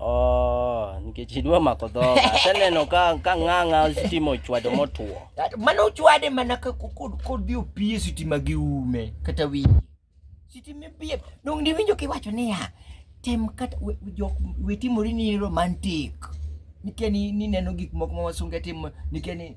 Oh, nikech idwa mako dhoga. Aseneno ka ka ng'ang'a stima ochwado motwo. Mano ochwade mana ka kodhi opie sitima gi ume kata winji. Sitima pie. Donge niwinjo kiwacho niya, tem kata jok wetimori ni romantic. Nikia ni neno gik moko ma wasunge timo nikia ni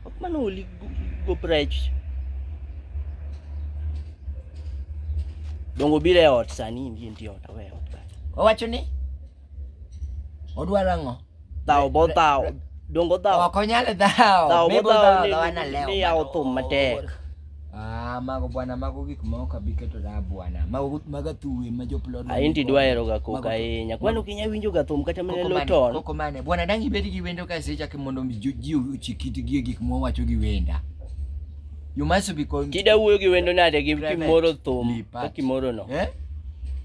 Huwag manuli, gobrech. Dongo bile ot sani inji nitie ot awe ot. Owacho ni odwaro ang'o? Dhawo bo dhawo. Dongo dhawo. Ok onyal dhawo. Dhawo bo dhawo ni yawo thum matek. Ah, mago bwana, mago gik ma ok abi keto da bwana. Mago maga tuwe ma joplod. Ah, inti dwa hero ga koko ahinya. Kwani ok inyal winjo ga thum kata mene loton. Koko mane? Bwana dang ibed gi wendo ka secha ki mondo mi ji ochikiti gi gik ma wacho gi wenda. You must be con. Kida wuoyo gi wendo nade gi kimoro thum ka kimoro no. Eh?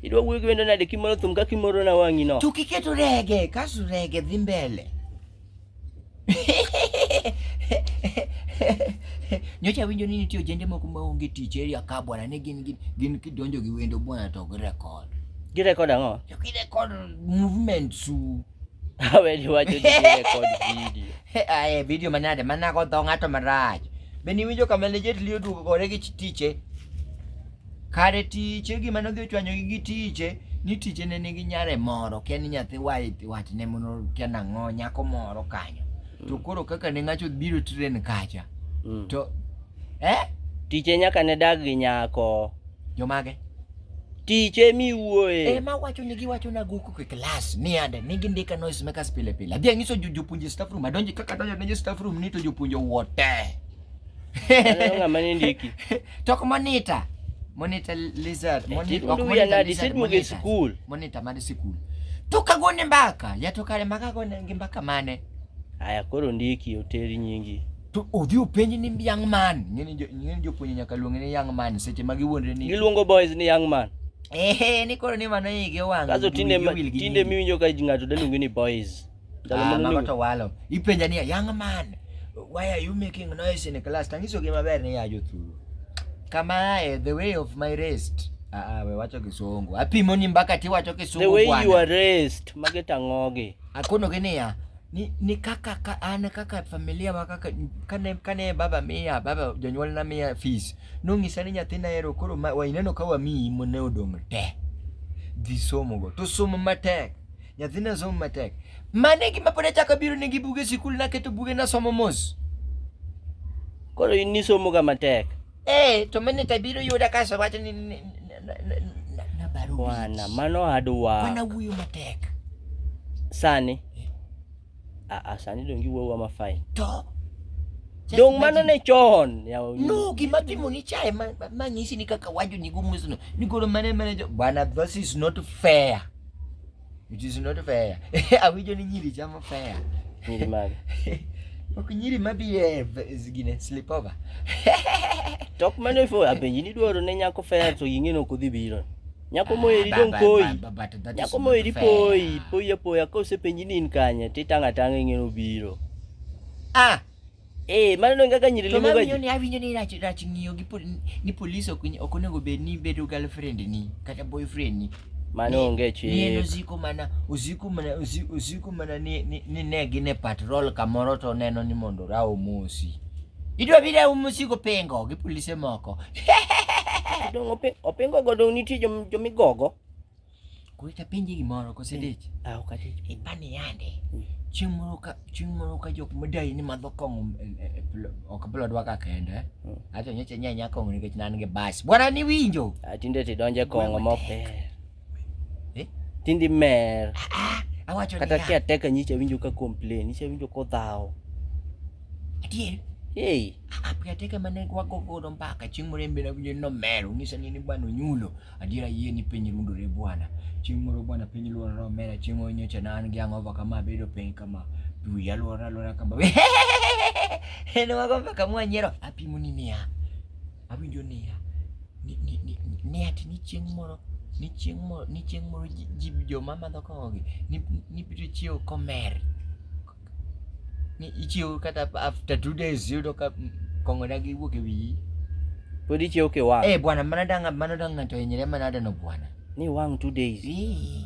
Idwa wuoyo gi wendo nade kimoro thum ka kimoro na wangi no. Tukiketo rege, kasu rege dhi mbele. Nyocha awinjo ni nitie ojende moko ma onge tich area ka bwana ne gin gin kidonjo gi wendo bwana to gi record. Gi record ang'o? To gi record movement su. Awe ni wacho ni gi record video. Ae eh, video manade manago dho ng'ato marach. Be niwinjo kama ne Jet Li oduogo gore gi tiche? Kare tiche gima nodhi ochwanyogi gi tiche ni tiche ne nigi nyare moro kia ni nyathi watne mono kia nang'o nyako moro kanyo mm. to koro kaka ne ng'acho biro tren kacha mm. to eh? tiche nyaka ne dag gi nyako jomage tiche miwuoye e ma wacho ni giwacho na guku ke class ni ande ni gindika noise makers pile pile adhi anyiso jopuonje staff room adonje kaka adonjo ne staff room ni to jopuonje wote Aneno ng'ama ne ndiki. Tok monitor. Monitor lizard. Monitor ok monitor lizard. Disit mo gi school. Monitor mar school. To kagone mbaka, ya to kare maka gone gi mbaka mane? Aya koro ndiki oteri nyingi. To odhi openji ni young man. Ng'eni jo ng'eni jopuonje nyaka luonge ni young man seche ma giwuondre ni. Giluongo boys ni young man. Ehe, ni koro ni mano igi owang'. Kaso tinde tinde miwinjo ka ng'ato daluonge ni boys. Ah, mago to walo. Ipenja ni young man, why are you making noise in class? Tangiso gi maber ni ya jothuru. Kama eh, the way of my rest. Ah, ah we wacho kisungu. Apimo ni mbaka ti wacho kisungu The way you are raised, mage tangogi. Akono gi niya, ni, ni kaka ka, an kaka familia wa kaka kane kane baba miya baba jonyuol na miya fees nong'isa ni nyathina ero koro waineno ka wamiyi mone odong' te dhi somo go to somo matek Nyathina somo matek. Mane gima pod achako abiro ne gi buge sikul naketo buge nasomo mos. Koro in nisomo ga matek. Eh, to mane tabiro yuda kaso wacho ni ni- ni- na- na- na- na baro Bwana, wich. mano adwa. Bwana wuoyo matek. Sani. Ah, ah, sani dong giwuowa ma fine. To Just Dong mano imagine- ne chon. yawa nyiri. no gima timo ni chae ma- ma- manyisi ni kaka wajo ni gumusuno ni golo mane mane jo bana this is not fair it is not fair awinjo ni nyiri chamo fair Nyiri mage. ok nyiri mabiye gine slip over Tok mane fo apenji ni dwaro ne nyako fair to ing'e ni ok odhi biro. Nyako moeri dong poi. Nyako moeri poi, poi apoya ka osepenji ni in kanye to itang' atang' ing'eyo obiro. Ah, Eh, mano nonge kaka nyiri to limo mawinjo gaji. ni awinjo ni rach rach ng'iyo gi pol, ni polis ok ny- ok onego bed ni bedo girlfriend ni kata boyfriend ni. Mano onge Ni en chik. osiko mana osiko mana osi- osiko mana ni ni, ni ne gin e patrol kamoro to oneno ni mondo ra omosi. Idwa bi da umo sigo pengo gi polise moko. Dong ope opengo go dong nitie jom jom igogo. Kwe ta penje gimoro kose dich. Ah ok adich. Ibani yande. Mm. Chieng' moro ka chieng' moro ka jok madai ni madho kong'o e, e, e, ok blo dwa ka kende. Mm. Ato nyocha nyanya kong'o nikech nan gi bas. Bwana ni winjo. Atinde ah, ti donje kong'o mopek. Eh? Tindi mer. Ah, ah, awacho ni. Kata kia teka nyicha winjo ka complain, nyicha winjo ko dhao. Adier. Hey. Ah, pia teka mane kwa koko do mpaka chieng' moro embena winjo no mer, ungisa ni ni bwana onyulo. Adier ayie ni piny rundo re bwana. Chieng' moro bwana piny luoro ro mer, chieng' onyocha na an gi ang'ova kama bedo piny kama. Dwi ya luoro luoro kama. Heno wago mpaka mwa nyero apimo ni mia. Awinjo niya, ni ni ni ni ati ni chieng' moro ni chieng' moro ni chieng' moro ji ji joma madho kong'o gi ni nibiro chiewo komer. Ni ichiewo kata after two days iyudo ka kong'o dagi wuok e wiyi. Pod ichiewo kiwang'. Eh bwana mano da ng'a- mano da ng'ato hinyre manadeno bwana. Ni wang' two days. Ii.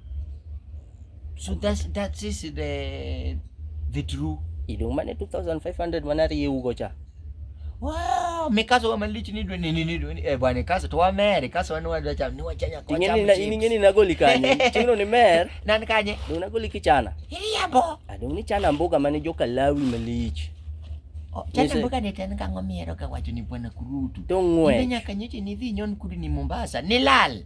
So that's that is the the true. Idong mane 2500 manari yugo cha. Wow, mikazo wa malichi ni dweni ni dweni. Eh bwana kazo to wa mere kazo wanu wadwa cha ni wachanya kwa cha. Ngeni ni ngeni na goli kanye. Chino ni mer. Nani kanye? Ni na goli kichana. Hili yabo. Adong ni chana mboga mane joka lawi malichi. Oh, chana mboga ni tena kango miero ka wacho ni bwana kurutu. Tongwe. Ni nyaka nyoche ni dhi nyon kudu ni Mombasa. Ni lal.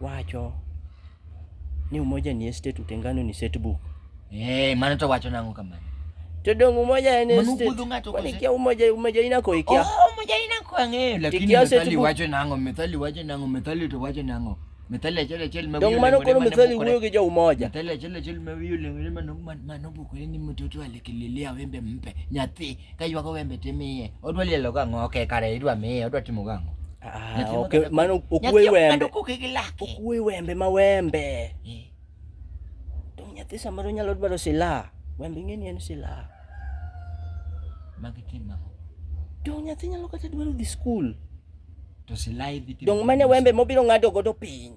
wacho ni umoja ni estate utengano ni setbook eh mano to wacho nango kamano to dong umoja en estate kwani kia umoja umoja ina ko ikia oh umoja ina ko ange lakini methali wacho nango methali wacho nango methali to wacho nango methali achiel achiel ma dong mano koro methali wuoyo gi jo umoja methali achiel achiel ma wiyo lengre mano mano bukore ni mtoto alekililia wembe mpe nyathi kaywago wembe timiye odwa lielo gang'o okay kare idwa miye odwa timo gang'o Ah, okay. Maana ukuwe wembe. Ukuwe wembe ma wembe. Eh. To nyathi samoro nyalo dwaro silaha. Wembe ing'e ni en silaha. Magi tim ang'o? To nyathi nyalo kata dwaro dhi skul. To silaha idhi timo. Dong' mane wembe mobiro ng'ado godo piny.